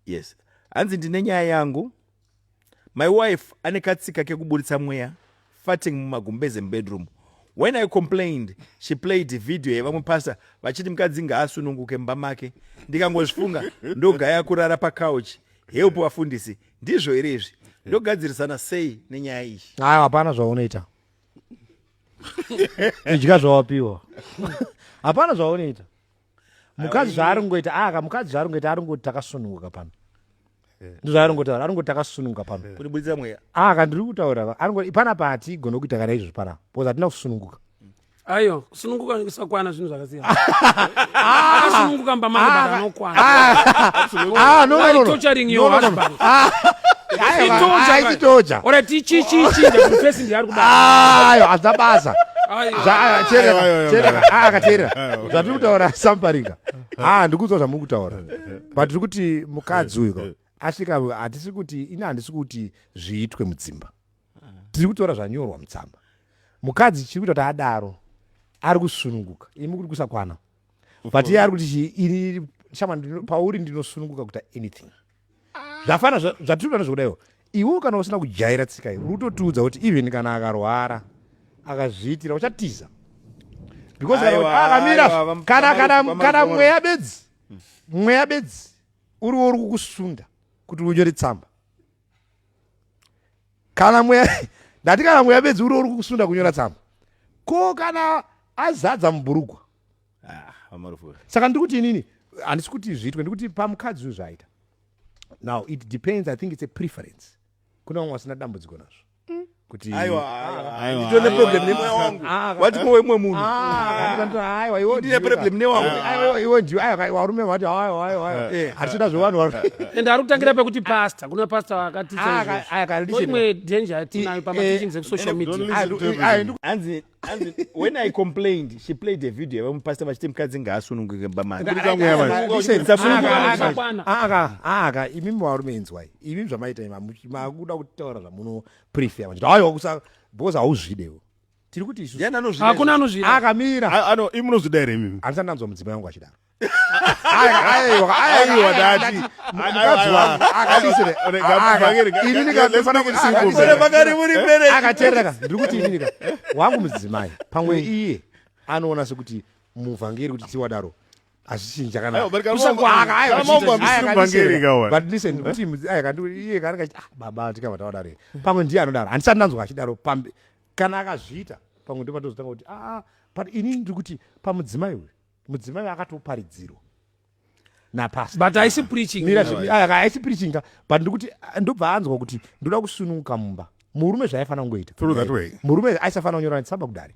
yes hanzi ndine nyaya yangu my wife ane katsika kekuburitsa mweya farting mumagumbeze mubedroom when i complained she played video yevamwe pasta vachiti mukadzi ngaasununguke mumba make ndikangozvifunga ndogaya kurara pacouch help vafundisi ndizvo here izvi ndogadzirisana sei nenyaya iyi hayi hapana zvaunoita idya zvawapiwa hapana zvaunoita mukadzi zvaari ngoita aka ah, mukadzi zvaari ngoita ari ngoti takasununguka pano eh. ndozvaari ngotaura ari ngoti takasununguka pano eh. kuti buditsa mweya aka ah, ndiri kutaura ari ngoti pana pati gona kuita kana izvozvi pana bcause hatina kusununguka ayo kusununguka nekusakwana zvinhu zvakasiyana akasununguka ah! mba mangu but anokwana torturing your husband aitoja ora tichichichinja kuti pesi ndiari kudaayo hazina basa akateerera zvatiri kutaura samparinga haa ah, ndikuudzwa zvamuri kutaura but tiri kuti mukadzi uyu asvika hatisi kuti ini handisi kuti zviitwe mudzimba tiri kutora zvanyorwa mutsamba mukadzi chiri kuita kuti adaro ari kusununguka imi kuri kusakwana but iye ari kuti chii ini shamwani pauri ndinosununguka kuita anything zvafana zvatirikurana zvekudaiwo iwe kana usina kujaira tsika iyi utotiudza kuti even kana akarwara akazviitira uchatiza because akamira ah, kana kana kana mweya bedzi mweya bedzi uriwo uri kukusunda kuti unyore tsamba kana mweya ndati kana mweya bedzi uriwo uri kukusunda kunyora tsamba ko kana azadza mubhurugwa ah, saka ndiri kuti inini handisi kuti zviitwe ndikuti pamukadzi uyu zvaita now it depends i think it's a preference kuna vamwe vasina dambudziko nazvo mm. kutiitone problem newangu vati mowe mwe munhuaiwa iwo ndiwo varume vati hatichida zvevanhu and ari kutangira pekuti pasta kuna pasta vakatiimwe danger tinayo pamateachings ekusocial mediahanzi when i complained she played a video yevamupasita vachiti mukadzi ngaasununguke bamaaaka imimi varume inzwai imimi zvamaita makuda kutaura zvamunoprefia machiti aiwa because hauzvidewo tiri kuti isu hakuna anozvida akamira imunozvida here imimi handisati ndanzwa mudzimai wangu achidaro aiwa dati mukadzi wangu akadisire inini kafanira kuti singombe pakari muri mbere akatereka ndiri kuti inini ka wangu mudzimai pamwe iye anoona sekuti muvhangeri kuti tiwadaro hazvichinji chakanaaaaaaaaaaababa tikava tawadaro pamwe ndiye anodaro handisati ndanzwa achidaro pambe kana akazviita pamwe ndomatozotanga kuti aa ah, ah, but inini ndiri kuti pamudzimai uyu mudzimai akatoparidzirwa napastor but haisi preaching mira Yeah, zve- ah, haisi preaching ka but ndikuti ah, ndobva anzwa kuti ndoda kusununguka mumba murume zvaifanira kungoita Through that way. murume aisafanira kunyora tsamba kudare